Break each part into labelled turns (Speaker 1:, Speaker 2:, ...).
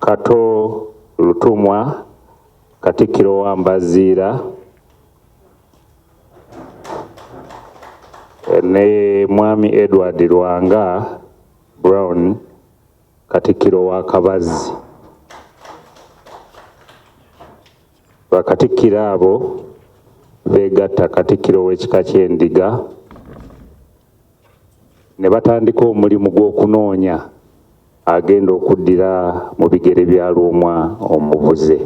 Speaker 1: Kato Lutumwa, Katikkiro wa Mbaziira ne Mwami Edward Lwanga Brown, Katikkiro wa Kabazzi. Bakatikkiro abo beegatta Katikkiro w'ekika ky'Endiga ne batandika omulimu gw'okunoonya agenda okuddira mu bigere bya Lwomwa omubuze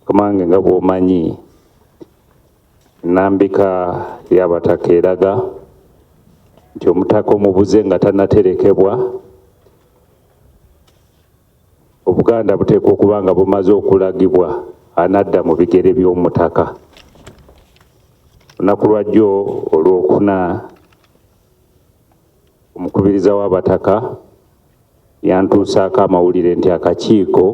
Speaker 1: kamange nga bw'omanyi nnambika y'abataka eraga nti omutaka omubuze nga tanaterekebwa obuganda buteekwa okuba nga bumaze okulagibwa anadda mu bigere by'omutaka olunaku lwajjo olwokuna Omukubiriza w'Abataka yantuusaako amawulire nti akakiiko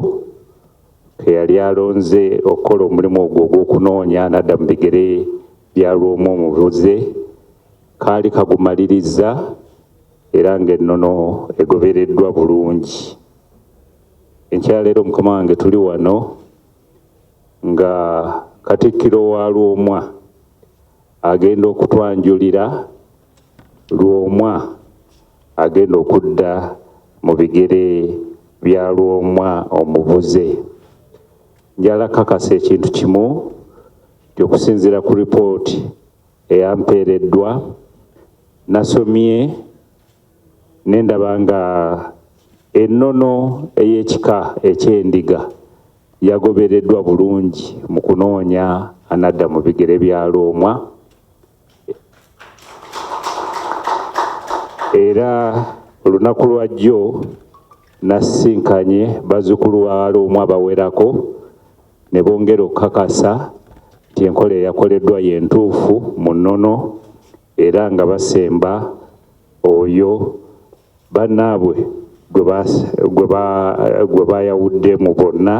Speaker 1: ke yali alonze okukola omulimu ogwo ogw'okunoonya n'adda mu bigere bya lw'omu omubuze kaali kagumalirizza era ng'ennono egobereddwa bulungi. Enkyaleero mukama wange tuli wano nga Katikkiro wa Lwomwa agenda okutwanjulira Lwomwa agenda okudda mu bigere bya Lwomwa omubuze. Njala kakasa ekintu kimu nti okusinzira ku ripooti eyampeereddwa nasomye ne ndaba nga ennono ey'ekika eky'endiga yagobereddwa bulungi mu kunoonya anadda mu bigere bya Lwomwa. era olunaku lwajjo nasisinkanye bazzukulu waaloomu abawerako ne bongera okukakasa nti enkola eyakoleddwa yentuufu mu nnono era nga basemba oyo bannaabwe gwe bayawudde mu bonna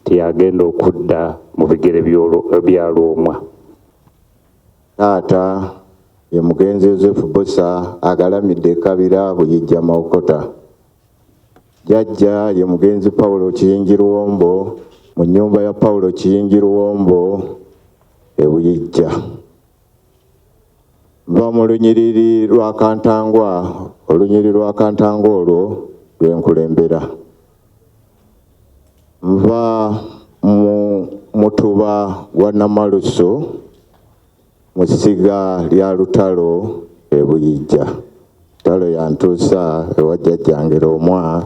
Speaker 1: teyagenda okudda mu bigere bya lwomwa Taata
Speaker 2: ye mugenzi Yosefu Bbosa agalamidde e Kabira Buyijja Mawokota. Jjajja ye mugenzi Paulo Kiyingi Luwombo mu nnyumba ya Paulo Kiyingi Luwombo e Buyijja. Nva mu lunyiriri lwa Kantangwa, olunyiriri lwa Kantangwa olwo lwe nkulembera. Nva mu mutuba gwa Namalusu mu ssiga lya Lutalo e Buyijja. Lutalo yantuusa ewa jjajjange Lwomwa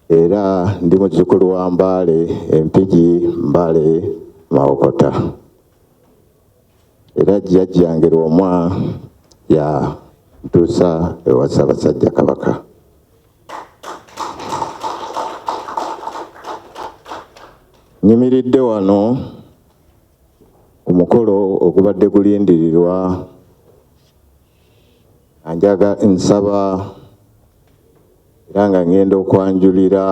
Speaker 2: era ndi muzzukulu wa Mbaale e Mpigi, Mbale Mawokota. Era jjajjange Lwomwa yantuusa ewa Ssaabasajja Kabaka. Nyimiridde wano ku mukolo ogubadde gulindirirwa anjaga nsaba era nga ngenda okwanjulira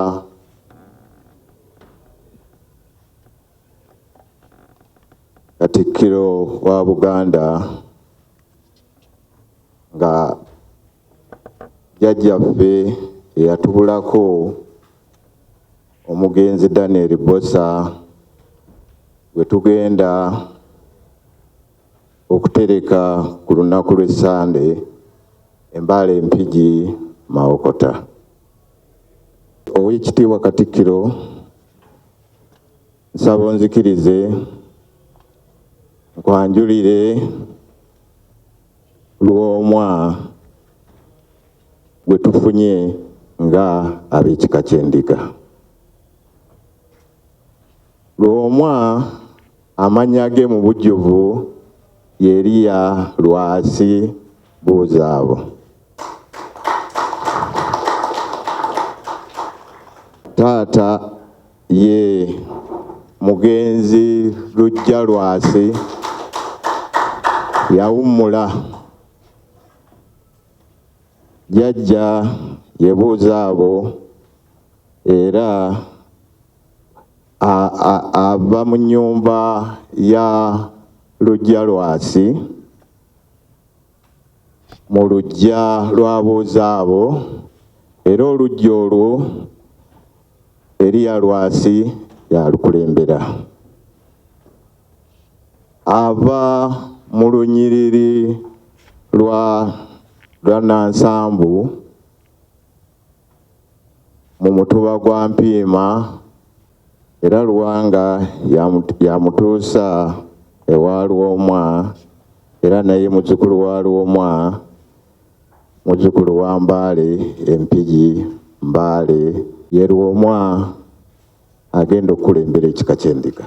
Speaker 2: Katikkiro wa Buganda nga jjajjaffe eyatubulako omugenzi Daniel Bosa gwe tugenda okutereka ku lunaku lw'essande embaala empigi Mawokota. Oweekitiibwa Katikkiro nsaba onzikirize nkwanjulire Lwomwa gwe tufunye nga ab'ekika ky'Endiga. Lwomwa amannya ge mu bujjuvu yeriya Lwasi Buuzaabo. Taata ye mugenzi Lujja Lwasi yawummula. Jjajja yebuuza abo era ava mu nnyumba ya Lujja Lwasi. mu luggya lw'abuuza abo era oluggya olwo Eriya Lwasi yalukulembera. Ava mu lunyiriri lwa lwa Nansambu mu mutuba gwa Mpiima era Luwanga yamutuusa ewa Lwomwa era naye muzzukulu wa Lwomwa, muzzukulu wa Mbaale e Mpigi Mbaale ye Lwomwa. agenda okukulembera ekika ky'endiga.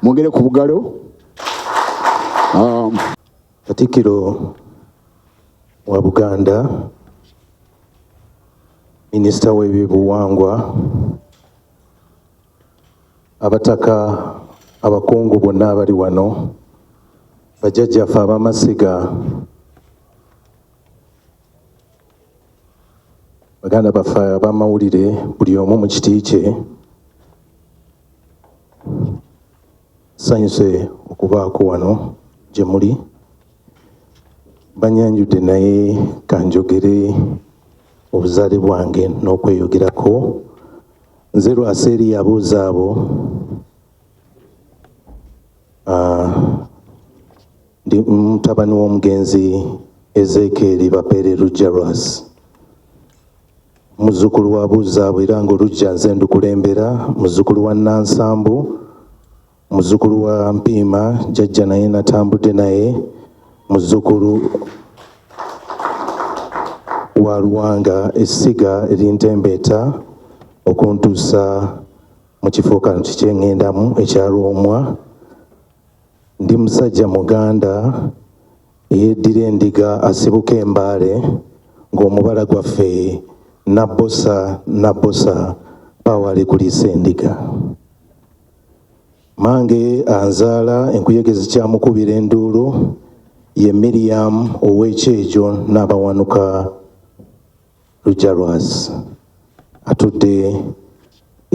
Speaker 3: mwogere ku bugalo um,
Speaker 4: katikiro wa buganda minisita w'ebibuwangwa Abataka abakungu bonna abali wano, bajjajjaffe ab'amasiga, baganda baffe ab'amawulire, buli omu mu kiti kye, sanyuse okubaako wano gye muli banyanjudde naye kanjogere obuzaale bwange n'okweyogerako Nze lwasa eri yabuuza abo ah, ndi mutabani w'omugenzi Ezeekeeri Bapeere Lujja Lwasi muzzukulu wa Buzaabo era ng'oluggya nze ndukulembera muzzukulu wa Nansambu Muzukulu wa Mpiima jajja naye natambudde naye muzukulu wa Luwanga essiga erintembeeta okuntuusa mu kifo kano kikyengendamu ekya Lwomwa. Ndi musajja muganda eyeddira endiga asibuka embaale ng'omubala gwaffe nabbosa nabbosa pawa alikulisa endiga. Mange anzaala enkuyege zikyamukubira enduulu ye Miriam ow'ekyejo n'abawanuka Lujalwazi atudde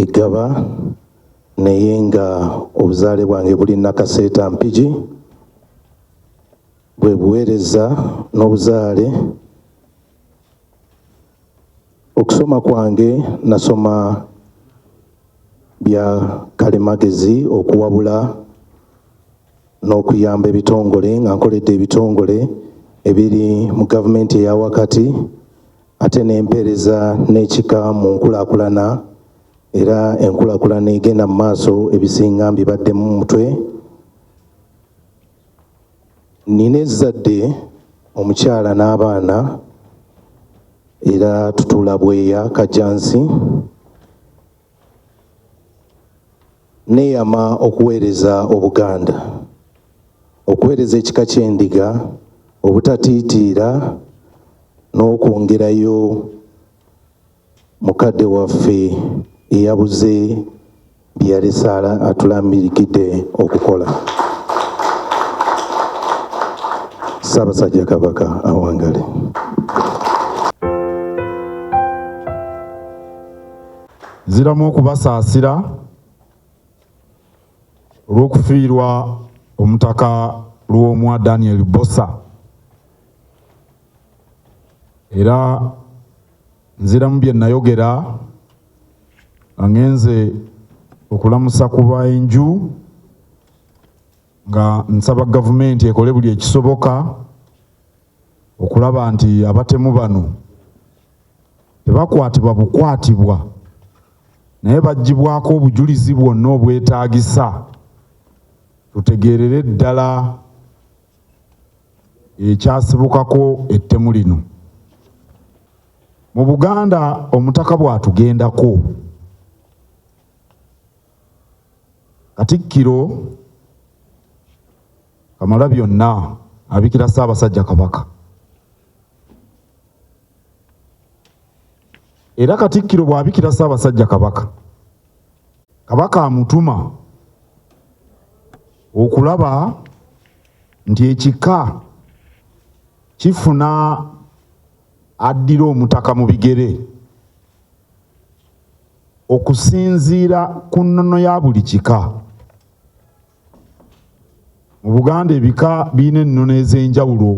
Speaker 4: eggaba naye nga obuzaale bwange buli Nakaseeta Mpigi bwe buweereza n'obuzaale Okusoma kwange nasoma bya kalimagezi okuwabula n'okuyamba ebitongole nga nkoledde ebitongole ebiri mu gavumenti eya wakati ate n'empeereza n'ekika mu nkulaakulana era enkulaakulana egenda mu maaso ebisinga mbibaddemu mutwe Nnina ezzadde omukyala n'abaana era tutuula Bweya Kajjansi. Nneeyama okuweereza Obuganda, okuweereza ekika ky'Endiga obutatiitiira n'okwongerayo mukadde waffe eyabuze byeyalese atulambirikidde okukola Ssaabasajja Kabaka awangale.
Speaker 5: Nziramu okubasaasira olw'okufiirwa omutaka Lwomwa Daniel Bbosa era nziramu bye nayogera nga ngenze okulamusa ku baenju nga nsaba gavumenti ekole buli ekisoboka okulaba nti abatemu bano tebakwatibwa bukwatibwa naye baggyibwako obujulizi bwonna obwetaagisa tutegeerere ddala ekyasibukako ettemu lino mu Buganda omutaka bw'atugendako Katikkiro Kamalabyonna abikira Ssaabasajja Kabaka era Katikkiro bw'abikira Ssaabasajja Kabaka Kabaka amutuma okulaba nti ekika kifuna addira omutaka mu bigere okusinziira ku nnono ya buli kika. Mu Buganda ebika birina ennono ez'enjawulo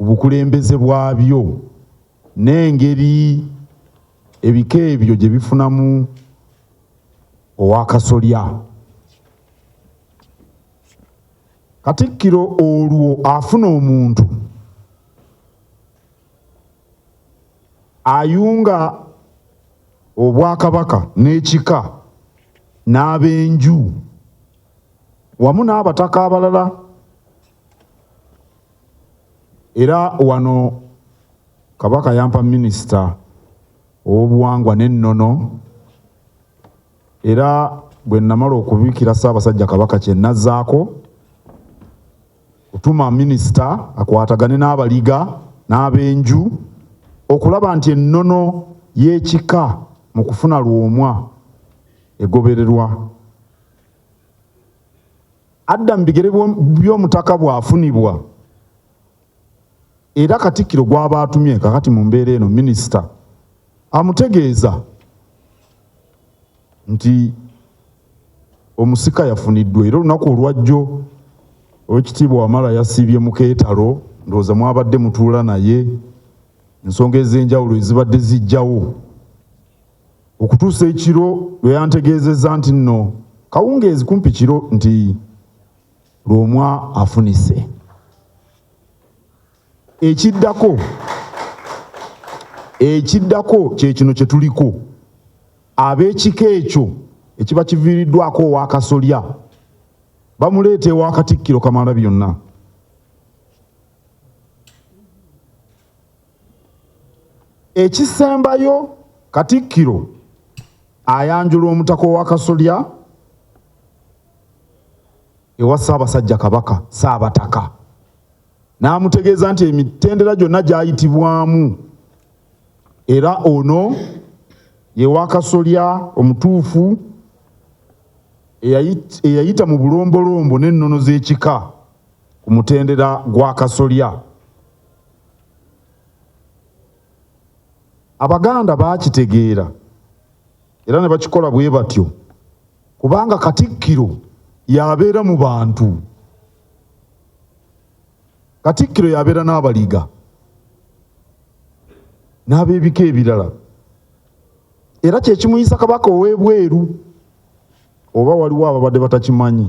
Speaker 5: obukulembeze bwabyo. n'engeri ebika ebyo gye bifunamu owakasolya katikkiro olwo afuna omuntu ayunga obwakabaka n'ekika n'abenju wamu n'abataka abalala era wano kabaka yampa minisita ow'obuwangwa n'ennono era bwe namala okubikira ssaabasajja kabaka kye nazzaako kutuma minisita akwatagane n'abaliga n'abenju okulaba nti ennono y'ekika mu kufuna lwomwa egobererwa adda mu bigere by'omutaka bw'afunibwa era katikkiro gw'aba atumye kakati mu mbeera eno minisita amutegeeza nti omusika yafuniddwa era olunaku olwajjo owekitiibwa wamala yasiibye mu keetalo ndowooza mwabadde mutuula naye ensonga ez'enjawulo ezibadde zijjawo okutuusa ekiro lwe yantegeezezza nti nno kawungeezi kumpi kiro nti lwomwa afunise ekiddako ekiddako kyekino kye tuliko ab'ekika ekyo ekiba kiviiriddwako owakasolya bamuleeta ewa katikkiro kamala byonna Ekisembayo Katikkiro ayanjula omutaka owakasolya ewa Ssaabasajja Kabaka Ssaabataka n'amutegeeza nti emitendera gyonna gyayitibwamu era ono ye wakasolya omutuufu eyayita mu bulombolombo n'ennono z'ekika ku mutendera gwa kasolya. Abaganda baakitegeera era ne bakikola bwe batyo kubanga Katikkiro yabeera mu bantu. Katikkiro yabeera n'abaliga n'ab'ebika ebirala era kye kimuyisa Kabaka ow'ebweru oba waliwo ababadde batakimanyi.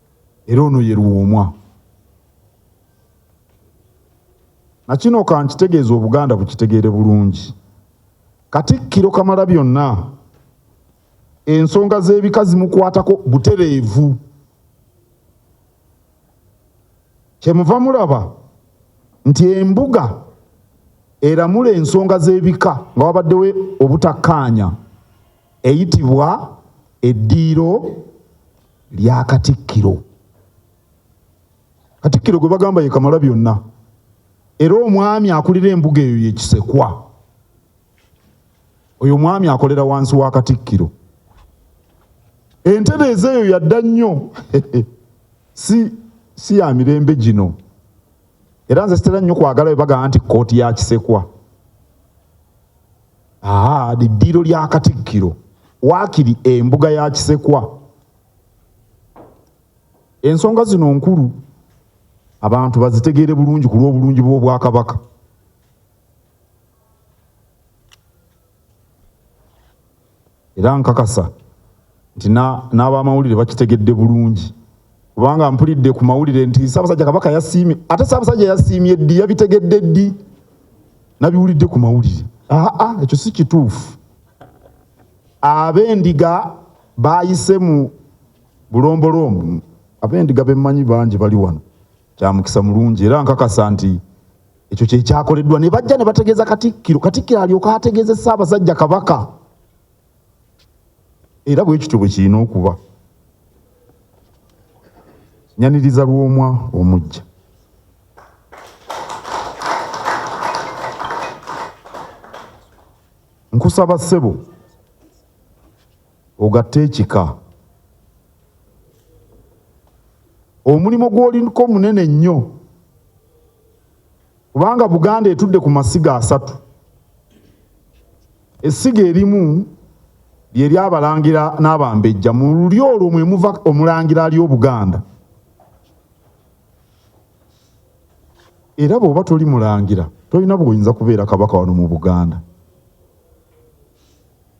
Speaker 5: era ono ye luwomwa nakino kankitegeeza obuganda bukitegeere bulungi katikkiro kamala byonna ensonga z'ebika zimukwatako butereevu kyemuva mulaba nti embuga eramula ensonga z'ebika nga wabaddewo obutakkaanya eyitibwa eddiiro lya Katikkiro. Katikkiro gwe bagamba ye kamala byonna era omwami akulira embuga eyo ye Kisekwa. Oyo omwami akolera wansi wa Katikkiro. Entereeza eyo yadda nnyo si, si ya mirembe gino era nze sitera nnyo kwagala bwe bagamba nti kkooti ya Kisekwa. Aa, liddiiro lya Katikkiro waakiri embuga ya Kisekwa. Ensonga zino nkulu abantu bazitegeere bulungi ku lw'obulungi bw'Obwakabaka. era nkakasa nti n'abamawulire bakitegedde bulungi kubanga mpulidde ku mawulire nti Ssaabasajja Kabaka yasiimye ate Ssaabasajja yasiimye ddi yabitegedde ddi nabiwulidde ku mawulire aa ekyo si kituufu ab'endiga baayise mu bulombolombo ab'endiga bemmanyi bangi bali wano Kya mukisa mulungi era nkakasa nti ekyo kye kyakoleddwa ne bajja ne bategeeza Katikkiro, Katikkiro alyoka ategeeze Ssaabasajja Kabaka era bwe kityo bwe kirina okuba. Nyaniriza Lwomwa omuggya. Nkusaba ssebo ogatte ekika omulimu gwolinko munene nnyo kubanga buganda etudde ku masiga asatu essiga erimu lyeryabalangira n'abambejja mu lulyo olwo mwemuva omulangira ali obuganda era bw'oba toli mulangira tolina bwoyinza kubeera kabaka wano mu buganda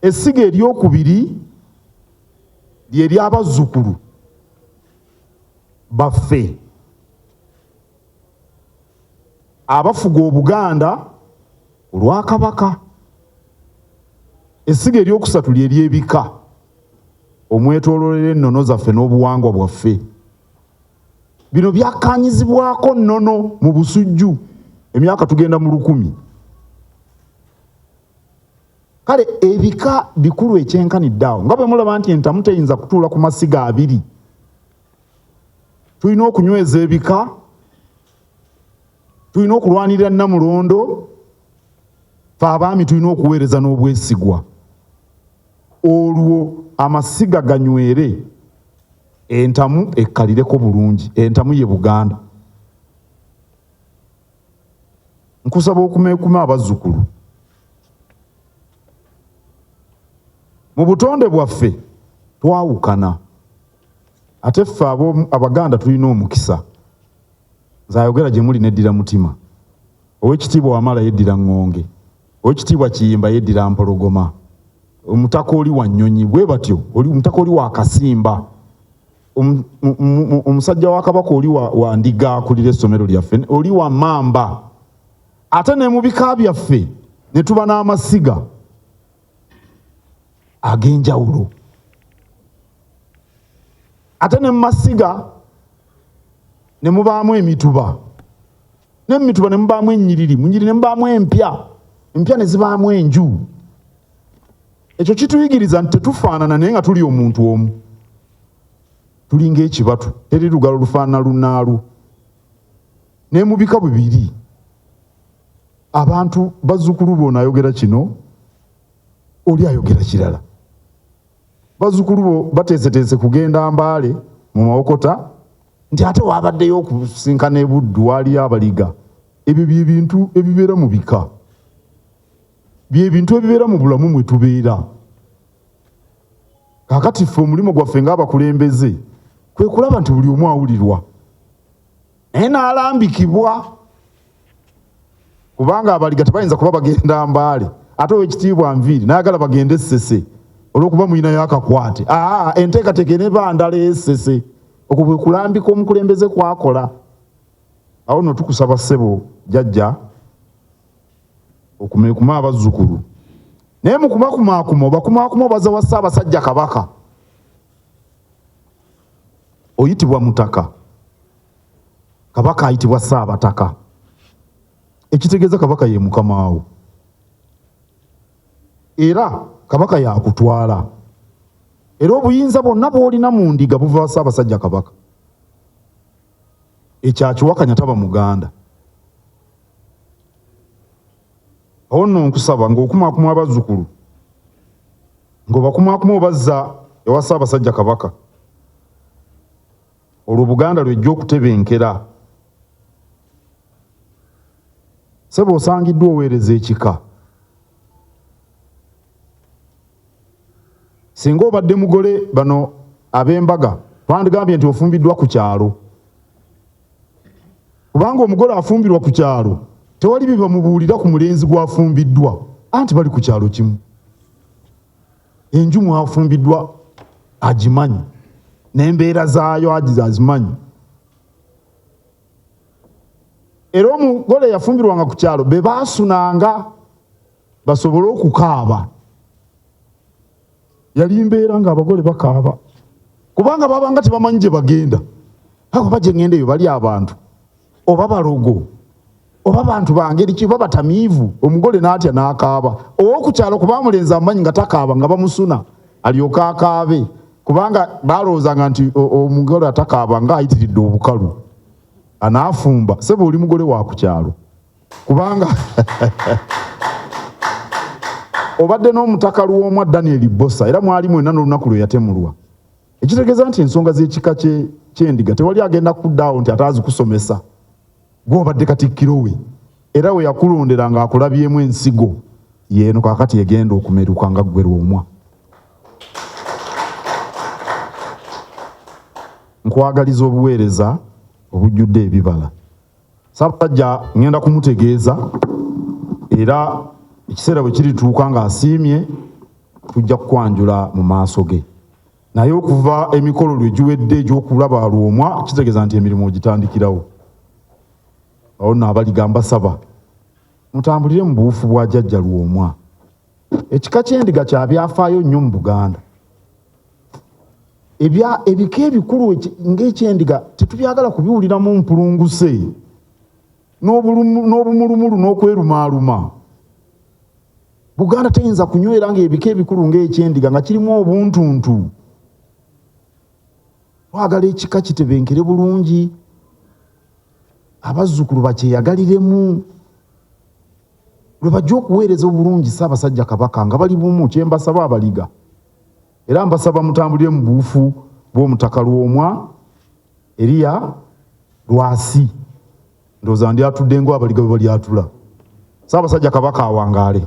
Speaker 5: Essiga eryokubiri lye ly'abazzukulu baffe abafuga Obuganda olwa Kabaka. Essiga eryokusatu lye ly'ebika omwetoololera ennono zaffe n'obuwangwa bwaffe. Bino byakkaanyizibwako nnono mu Busujju emyaka tugenda mu lukumi. kale ebika bikulu ekyenkanidde awo nga bwe mulaba nti entamu teyinza kutuula ku masiga abiri tulina okunyweza ebika tulina okulwanirira namulondo fe abaami tulina okuweereza n'obwesigwa olwo amasiga ganywere entamu ekkalireko bulungi entamu ye buganda nkusaba okumeekuma abazzukulu mu butonde bwaffe twawukana ate ffe abaganda tulina omukisa nze ayogera gye muli neddira mutima owekitiibwa wamala yeddira ŋŋonge owekitiibwa kiyimba yeddira mpologoma omutaka oli wa nnyonyi bwe batyo omutaka oli wa kasimba Um, omusajja wa kabaka oli wa ndiga akulira essomero lyaffe oli wa mamba ate ne mu bika byaffe ne tuba n'amasiga ag'enjawulo ate ne mu masiga ne mubaamu emituba ne mu mituba ne mubaamu ennyiriri mu nyiriri ne mubaamu empya empya ne zibaamu enju Ekyo kituyigiriza nti tetufaanana naye nga tuli omuntu omu, tulinga ekibatu, teri lugalo lufaanana lunaalwo. Naye mu bika bibiri abantu bazzukulu bo naayogera kino oli ayogera kirala. Bazzukulu bo bateeseteese kugenda Mbaale mu Mawokota nti ate waabaddeyo okusinkana e Buddu waaliyo abaliga. Ebyo bye bintu ebibeera mu bika. byebintu ebibeera mu bulamu mwe tubeera kakati ffe omulimu gwaffe ngaabakulembeze kwe kulaba nti buli omu awulirwa naye naalambikibwa kubanga abaliga tebayinza kuba bagenda mbaale ate owekitiibwa nviiri nayagala bagende essese olwokuba muyinayo akakwate aa enteekateeka eneba ndala esese okwo bwe kulambika omukulembeze kwakola awo no tukusaba ssebo jajja okumekuma abazzukulu naye mukubakumakuma obakumakuma obaza wa ssaabasajja kabaka oyitibwa mutaka kabaka ayitibwa ssaabataka ekitegeeza kabaka ye mukamaawo era kabaka yakutwala era obuyinza bwonna bwolina mu ndiga buva wa ssaabasajja kabaka ekyakiwakanya taba muganda awo nno nkusaba ng'okumaakuma abazzukulu ng'obakumaakuma obazza ewa ssaabasajja kabaka olwo buganda lwejja okutebenkera sebe osangiddwa oweereza ekika singa obadde mugole bano ab'embaga bandigambye nti ofumbiddwa ku kyalo kubanga omugole afumbirwa ku kyalo tewali bye bamubuulira ku mulenzi gw'afumbiddwa anti bali ku kyalo kimu enju mwafumbiddwa agimanyi n'embeera zaayo agize azimanyi era omugole yafumbirwanga ku kyalo be baasunanga basobole okukaaba yali mbeera nga abagole bakaaba kubanga babanga tebamanyi gye bagenda abo baje ngenda eyo bali abantu oba balogo oba bantu bangeri ki babatamiivu omugole n'atya n'akaaba owokukyalo kuba amulenzi amanyi nga takaaba nga bamusuna alyoka akaabe kubanga balowoozanga nti omugole atakaaba nga ayitiridde obukalu anaafumba sebe oli mugole wa ku kyalo kubanga obadde n'omutaka luwomwa daniel bosa era mwali mwena n'olunaku lwe yatemulwa ekitegeeza nti ensonga z'ekika kyendiga tewali agenda kuddaawo nti ate azikusomesa gwobadde katikkiro we era we yakulondera ng'akulabyemu ensigo yeeno kakati egenda okumeruka nga ggwe lwomwa nkwagaliza obuweereza obujjudde ebibala Ssaabasajja ngenda kumutegeeza era ekiseera bwe kirituuka ng'asiimye tujja kukwanjula mu maaso ge naye okuva emikolo lwe giwedde egy'okulaba lwomwa kitegeeza nti emirimu ogitandikirawo awo nno abaligamba saba mutambulire mu buwufu bwa jajja lwomwa ekika kyendiga kyabyafaayo nnyo mu buganda ebya ebika ebikulu ngaekyendiga tetubyagala kubiwuliramu mpulunguse n'obumulumulu n'okwerumaaluma buganda teyinza kunywera nga ebika ebikulu ngaekyendiga nga kirimu obuntuntu twagala ekika kitebenkere bulungi abazzukulu bakyeyagaliremu lwe bajja okuweereza obulungi Ssaabasajja Kabaka nga bali bumu kye mbasaba abaliga era mbasaba mutambulire mu buufu bw'omutaka Lwomwa Eriya Lwasi ndowooza ndi atudde ngo abaliga bwe bali atula Ssaabasajja Kabaka awangaale.